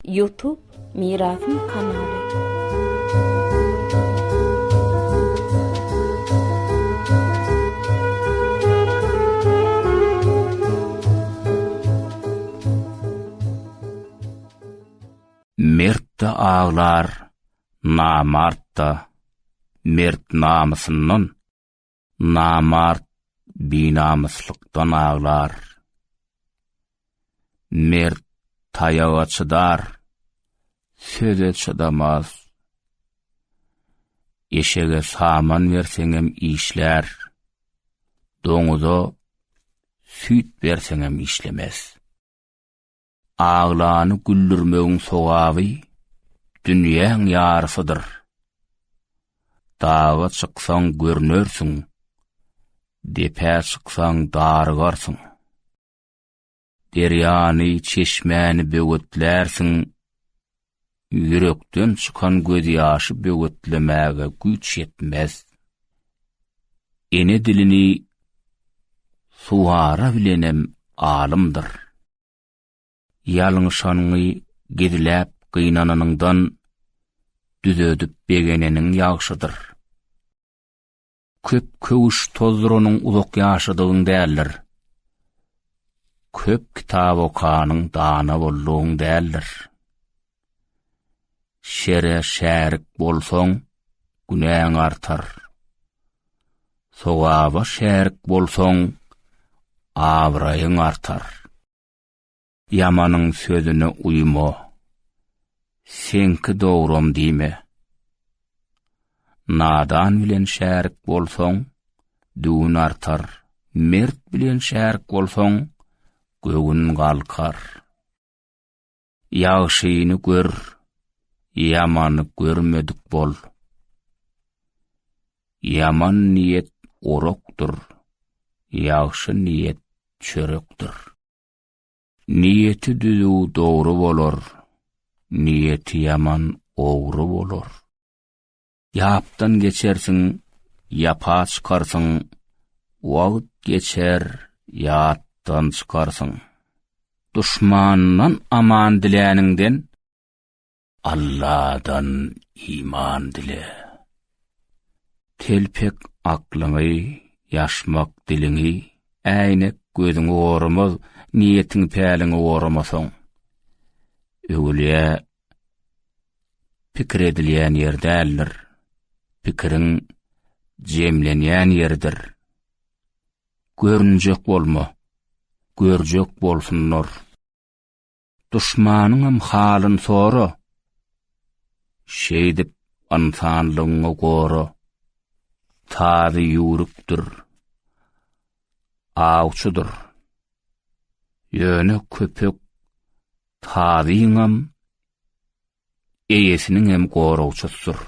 Youtube mirasym kanaly. Mert-de aglar, namart-da. Mert namysyndan, Namart binamyslykdan aglar, mert taýaga çydar, söze çydamaz. Eşege saman berseňem işlär, doňuza süýt berseňem işlemez. Aglany güldürmegiň sogaby dünýäň ýarysydyr. Daga çyksaň görnersiň, depä çyksaň darygarsyň. Derýany, çeşmäni böwetlärsiň, ýürekden çykan gözýaşy böwetlemäge güýç ýetmez. Ene dilini suwara bilenem alymdyr. Ýalňyşanyňy gizläp gynananyňdan, düzedip begeneniň ýagşydyr. Köp köwüş tozduranyň uzak ýaşadygyň däldir. Köp kitap okanyň dana boldugyň däldir. Şere şärik bolsaň, günäň artar. Sogaba şärik bolsaň, abraýyň artar. Ýamanyň sözüne uýma. Seňki dogrum diýme. Nadan bilen şärik bolsaň, düwün artar. Mert bilen şärik bolsaň, göwün galkar. Ýagşyny gör, ýamany görmedik bol. Ýaman niýet orakdyr, ýagşy niýet çörekdir. Niýeti düzüw dogry bolar, niýeti ýaman ogry bolar. Ýapdan geçersiň, ýapa çykarsyň, Wagt geçer, ýatdan çykarsyň. Duşmandan aman diläniňden, Alladan iman dile. Telpek aklyňy, ýaşmak diliňi, Äýnek gözüňi gormaz, Niýetiňi-päliňi goramasaň. Öwülýä pikir edilýän ýer däldir. Pikiriň jemlenýän ýeridir. Görünjek bolma, görjek bolsunlar. Duşmanyňam halyn sora. Şeýdip ynsanlygyňy gora. Tazy ýüwrükdir. Awçydyr. Ýöne köpek Sazyňam, eýesiniňem goragçysydyr.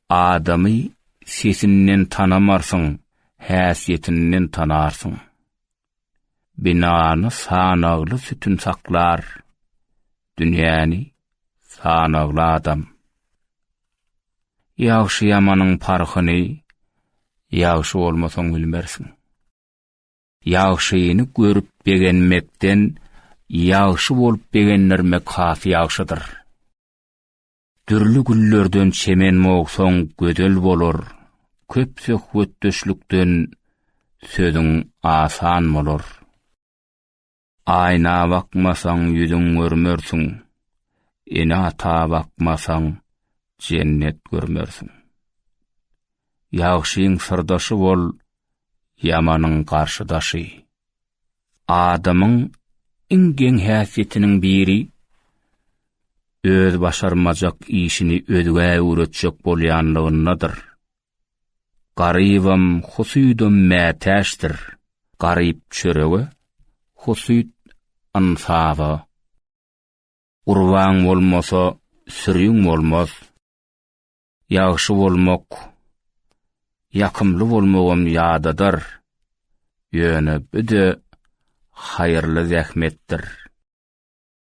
Adamy sesinden tanamarsyň, häsiýetinden tanarsyň. Binany sanagly sütün saklar, dünýäni sanagly adam. Ýagşy-ýamanyň parhyny ýagşy bolmasaň bilmersiň. Ýagşyny görüp begenmekden ýagşy bolup begendirmek has ýagşydyr. Dürli güllerden çemen mogsaň gözel bolar, köp söhbetdeşlikden sözüň asan bolar. Aýna bakmasaň ýüzüň görmersiň, ene-ata bakmasaň jennet görmersiň. Ýagşyň syrdaşy bol, ýamanyň garşydaşy. Adamyň iň geň häsiýetiniň biri öz başarmajak işini özgä öwretjek bolýanlygyndadyr. Garybam, husuýdam mätäçdir. Garyp çörege, husuýt ynsafa. Gurbaň bolmasa, süriň bolmaz. Ýagşy bolmak, ýakymly bolmagam ýadadar. Ýöne bu-de haýyrly zähmetdir.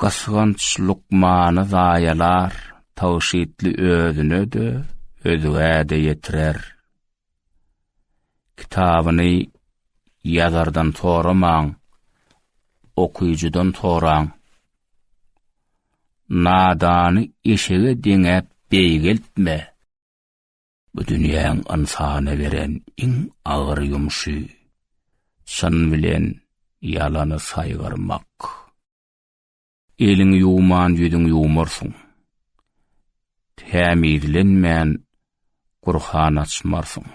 Gysganç lukmany zaýalar, tygşytly özüne-de, özgä-de ýetirer. Kitabyny ýazardan soramaň, okyjydan soraň. Nadany eşege deňäp beýgeltme. Bu dünýäň ynsana beren iň agyr ýumşy, çyn bilen ýalany saýgarmak. Eliňi ýuwman ýüzüňi ýuwmarsyň. Tämizlenmän Gurhan açmarsyň.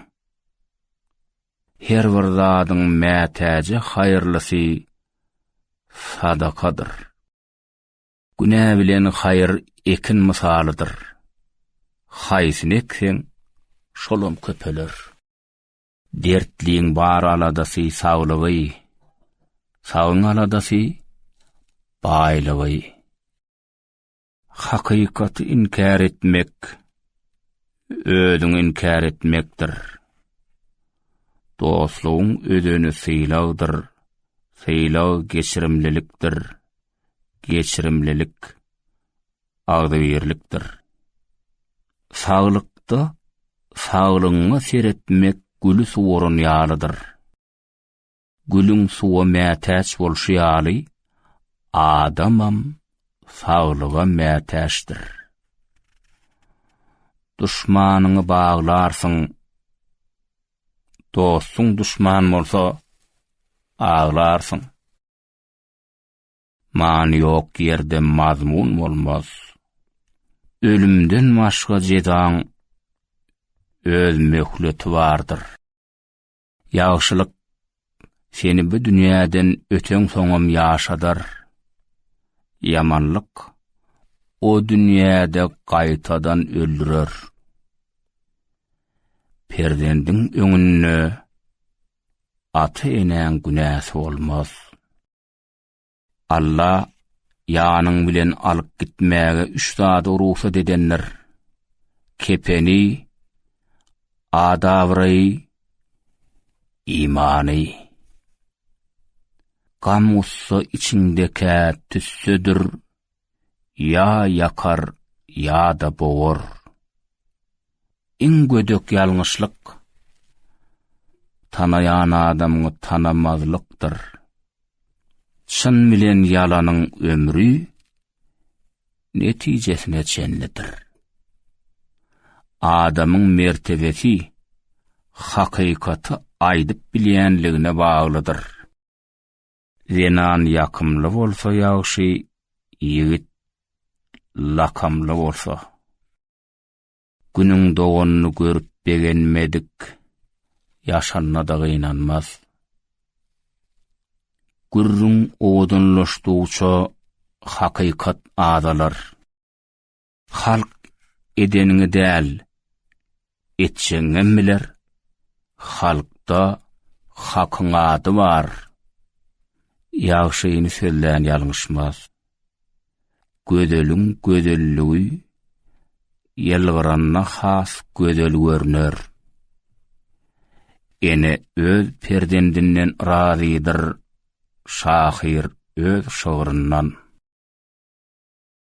Her bir zadyň mätäje haýyrlysy sadakadyr. Günä bilen haýyr ekin mysalydyr. Haýsyny ekseň, şolam köpeler. Dertliň bar aladasy saglygy, sagyň aladasy baýlygy. Hakykaty inkär etmek, özüňi inkär etmekdir. Dostlugyň özeni sylagdyr, sylag geçirimlilikdir. geçirimlilik, agzybirlikdir. Saglykda saglygyňa seretmek güli suwaran ýalydyr. Gülüň suwa mätäç bolşy ýaly, adamam saglyga mätäçdir. Duşmanyňy baglarsyň, dostuň duşman bolsa, aglarsyň. Many ýok ýerde mazmun bolmaz. Ölümden başga jezaň öz möhleti bardyr. Ýagşylyk seni bu dünýäden öteň soňam ýaşadar. Ýamanlyk o dünýäde gaýtadan öldürer. Perzendiň öňünde ata-enäň günäsi bolmaz. Alla ýanyň bilen alyp gitmäge üç zady rugsat edendir. Kepeni, adawraýy, imany. Gam-gussa içiňdekä tüssedir, ýa ýakar ýa-da bogar. Iň gödek ýalňyşlyk, tanaýan adamyňy tanamazlykdyr. Çyn bilen ýalanyň ömri netijesine çenlidir. Adamyň mertebesi hakykaty aýdyp bilýänligine baglydyr. Zenan ýakymly bolsa ýagşy, ýigit lakamly bolsa. Günüň doganyny görüp begenmedik, ýaşanyna-da gynanmaz. Gürrüň owadanlaşdygyça hakykat azalar. Halk edeniňi däl, etjegiňem biler. Halkda hakyň ady bar. Ýagşyny sözlän ýalňyşmaz. Gözeliň gözelligi ýylgyranda has gözel görner. Ene öz perzendinden razydyr, şahyr öz şygryndan.